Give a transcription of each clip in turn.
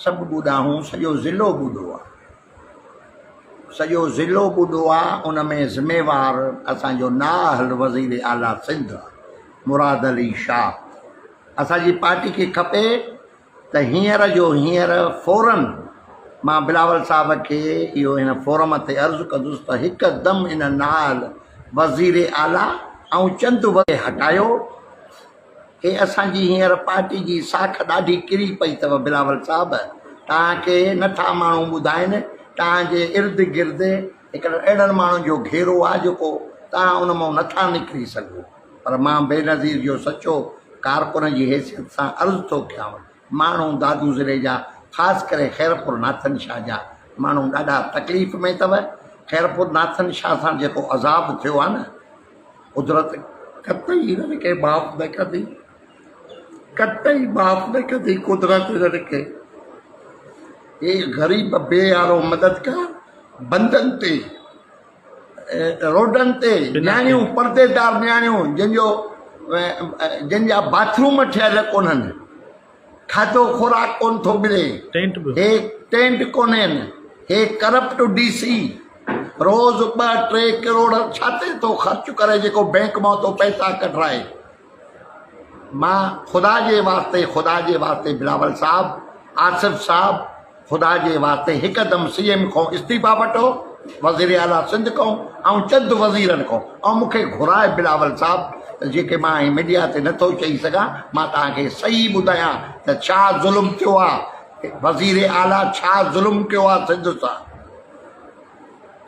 سڀ ٻوڏا هون سڄو ضلعو ٻوڏو آ سڄو ضلعو ٻوڏو آ ان ۾ ذميوار اسان جو نااهل وزير اعليٰ سنڌ آ مراد علي شاھ اسان جي پارٽي کي کپي ته هينئر جو هينئر فورن مان بلاول صاحب کي اهو هن فورم تي عرض ڪندس ته هڪدم ان نااهل وزير اعليٰ ۽ چند وزير هٽايو هي اسان جي هينئر پارٽي جي ساک ڏاڍي ڪري پئي اٿو بلاول صاحب توهان کي نٿا ماڻهو ٻڌائين توهان جي ارد گرد هڪڙن اهڙن ماڻهن جو گهيرو آهي جيڪو توهان ان مئون نٿا نڪري سگهو پر مان بينظير جو سچو ڪارڪن جي حيثيت سان عرض ٿو ڪيانو ماڻهو دادو ضلعي جا خاص ڪري خيرپور ناٿن شاهه جا ماڻهو ڏاڍا تڪليف ۾ اٿو خيرپور ناٿن شاهه سان جيڪو عذاب ٿيو آهي نه قدرت قطعي هنن کي معاف نه ڪندي قطعي معاف نه ڪندي قدرت هنن کي اي غريب بي يارو مددگار بندن تي روڊن تي نياڻيون پرديدار نياڻيون جن جو جن جا باٿ روم ٺهيل ڪونهن کاڌو خوراڪ ڪون ٿو ملي هي ٽينٽ ڪونهن هي ڪرپٽ ڊي سي روز ٻه ٽي ڪروڙ ڇاتي ٿو خرچ ڪري جيڪو بينڪ مان ٿو پئسا ڪڍرائي مان خدا جي واسطي خدا جي واسطي بلاول صاحب آصف صاحب خدا جي واسطي هڪدم سي ايم کان استعيفا وٺو وزير اعليٰ سنڌ کان ۽ چند وزيرن کان ۽ مونکي گهرائي بلاول صاحب ته جيڪي مان هي ميڊيا تي نٿو چئي سگهان مان تهانکي صحيح ٻڌايان ته ڇا ظلم ٿيو آهي وزير اعليٰ ڇا ظلم ڪيو آهي سنڌ سان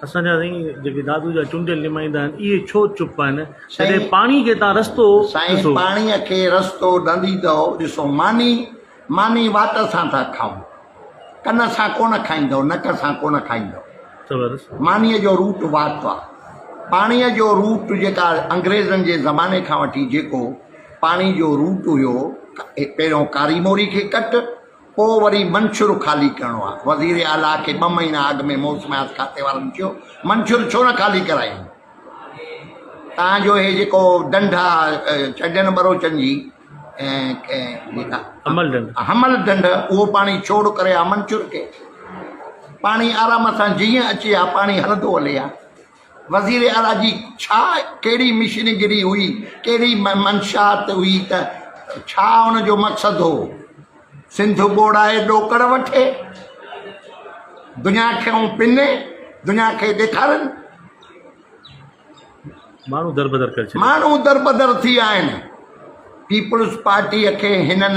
اسان جا سائين جيڪي دادو جا چونڊيل نمائندا آهن اهي ڇو چپ آهن جڏهن پاڻي کي تان رستو سائين پاڻي کي رستو ڏنديدئو ڏسو ماني ماني وات سان ٿا کائون ڪن سان ڪونه کائيندئو نڪ سان ڪونه کائيندئو ماني جو روٽ وات آ پاڻي جو روٽ جيڪا انگريزن جي زماني کان وٺي جيڪو پاڻي جو روٽ هيو پهريون ڪاري موري کي ڪٽ پوء وري منشور خالي ڪرڻو آهي، وزير اعليٰ کي ٻه مهينا اڳ ۾ موسميات کاتي وارن چيو منشور ڇو نه خالي ڪرايون تان جو هي جيڪو ڍنڍ آ چڍين ٻروچن جي حمل ڍنڍ اهو پاڻي ڇوڙ ڪري آ منشور کي پاڻي آرام سان جيئن اچي آ پاڻي هلندو هلي آ. وزير اعليٰ جي ڇا ڪهڙي مشن گري هئي، ڪهڙي منشات هئي ته ڇا ان جو مقصد هو سنڌ ٻوڙائي ڏوڪڙ وٺي دنيا کي اون پني دنيا کي ڏيکارن. ماڻهو دربدر ڪري ڇڏيا. ماڻهو دربدر ٿي ويا آهن پيپلز پارٽيء کي هنن.